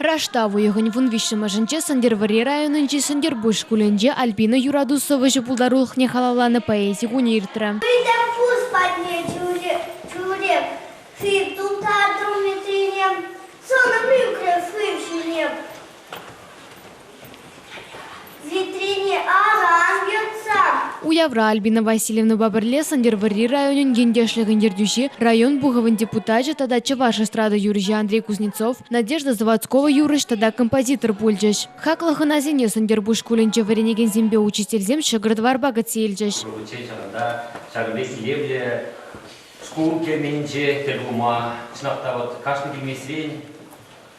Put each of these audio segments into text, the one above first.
Раштав уйӑхӗн вун виҫҫӗмӗшӗнче Сӗнтӗрвӑрри районӗнчи Сӗнтӗрпуҫ шкулӗнче Альбина юрату сӑвӑҫӑ пултарулӑхне халалланӑ поэзи кунӗ иртрӗ. Сӗнтӗрпуҫ патне тӳрех сив тултар тумӗсене сӑнӑм ӳкрӗ шыв ҫине. Уявра Альбина Васильевнӑпа пӗрле Сӗнтӗрвӑрри районӗн ентешлӗхӗн ертӳҫи, район Пухӑвӗн депутачӗ тата чӑваш эстрада юрӑҫи Андрей Кузнецов, Надежда Заводскова юрӑҫ тата композитор пулчӗҫ. Хаклӑ хӑнасене Сӗнтӗрпуҫ шкулӗнче вӗренекенсемпе учительсем ҫӑкӑр-тӑварпа кӗтсе илчӗҫ. Унччен ҫакӑнта ҫакӑн пек илемлӗ шкул керменӗнче тӗл пулма, чӑнах та, вӑт кашни килмесрен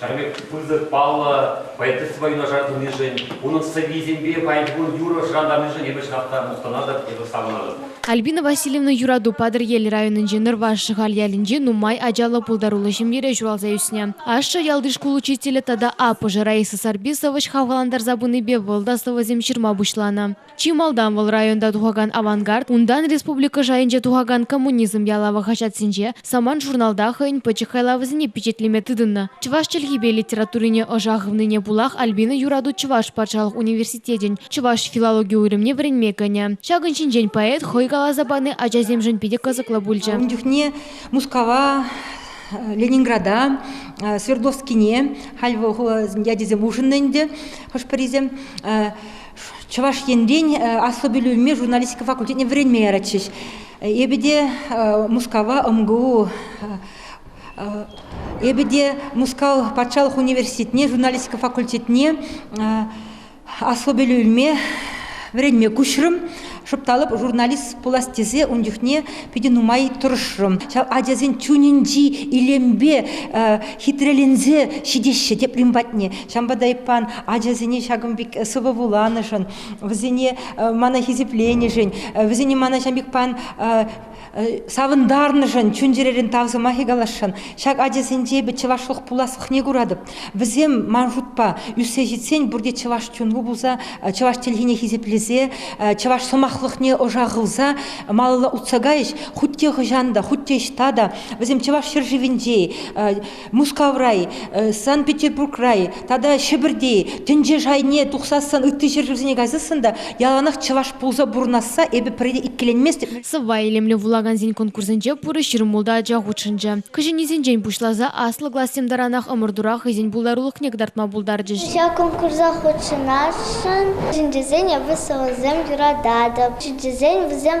Ҫакӑн пек пысӑк паллӑ поэтесспа юнашар тӑнишӗн, унӑн сӑввисемпе пайтун юрӑ шӑрантарнишӗн эпӗ чӑнах та мухтанатӑп, эпӗ савӑнатӑп. Альбина Васильевна юрату Патӑрьел районӗнчи Нӑрваш Шӑхаль ялӗнчи нумай ачаллӑ пултаруллӑ ҫемьере ҫуралса ӳснӗ. Ашшӗ ялти шкул учителӗ тата аппӑшӗ Раиса Сарпи сӑвӑҫ хавхалантарса пынипе вӑл та сӑвӑсем ҫырма пуҫланӑ. Чи малтан вӑл районта тухакан Авангард, унтан республика шайӗнче тухакан Коммунизм ялавӗ хаҫатсенче, Самант-журналта хӑйӗн пӗчӗк хайлавӗсене пичетлеме тытӑннӑ. Чӑваш чӗлхипе литературине ӑша хывнине пулах Альбина юрату Чӑваш патшалӑх университетӗн чӑваш филологи уйрӑмне вӗренме кӗнӗ. Ҫакӑн ҫинчен поэт хӑй каласа пани ачасемшӗн питӗ кӑсӑклӑ пулчӗ. Ун чухне Мускава Ленинграда, Свердловскине халь вӑл ячӗсем улшӑннӑ ӗнтӗ хӑш-пӗрисем. Чӑваш Енрен аслӑ пӗлӳ илме журналистика факультетне вӗренме яратчӗҫ. Эпӗ те Мускава МГУ, эпӗ те Мускав патшалӑх университетне, журналистика факультетне аслӑ пӗлӳ илме, вӗренме куҫрӑм. Шӑпталӑп, журналист пулас тесе ун чухне питӗ нумай тӑрӑшрӑм. Ҫав ачасен чунӗнчи илемпе хитреленсе ҫитеҫҫӗ теприн патне. Ҫавӑнпа та эппан ачасене ҫакӑн пек сывӑ вуланӑшӑн, вӗсене мана хисепленӗшӗн, вӗсене мана ҫавӑн пек пан Савӑнтарнӑшӑн, чун-чӗререн тав сӑмахӗ каласшӑн. Ҫак ачасенче эпӗ чӑвашлӑх пуласлӑхне куратӑп. Вӗсем, ман шутпа, ӳссе ҫитсен пурте чӑваш чунлӑ пулса, чӑваш чӗлхине хисеплесе, чӑваш сӑмахлӑхне ӑша хывса малалла утса кайӗҫ. Хуть те хӑҫан та, хуть те ӑҫта та вӗсем чӑваш ҫӗршывӗнче, Мускаврай, Санкт-Петербурграй тата Ҫӗпӗрти тӗнче шайне тухсассӑн, ытти ҫӗршывсене кайсассӑн та яланах чӑваш пулса пурӑнасса эпӗ пӗрре иккӗленместӗп. Сӑвва илемлӗ вулакансен конкурсӗнче пурӑ ҫырмулта ача хутшӑнчӗ. Кӗҫӗннисенчен пуҫласа аслӑ классем таранах ӑмӑртура хӑйсен пултарулӑхне кӑтартма пултарчӗҫ. Ҫак конкурса хутшӑнасшӑн чеченчесен ӑвӑсӗсем юрататӑп. Чеченсен вӗсем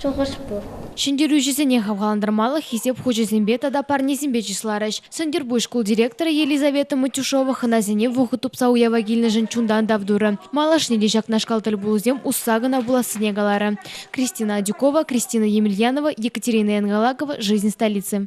Шухӑш пур. Ҫӗнтерӳҫӗсене хавхалантармалӑх хисеп хучӗсемпе тата парнесемпе чысларӗҫ. Сӗнтӗрпуҫ шкул директорӗ Елизавета Матюшова хӑнасене вӑхӑт тупса уява килнӗшӗн чунтан тав турӗ. Малашне те ҫакнашкал тӗлпулусем усса кӑна пулассине каларӗ. Кристина Адюкова, Кристина Емельянова, Екатерина Янгалакова, Жизнь столицы.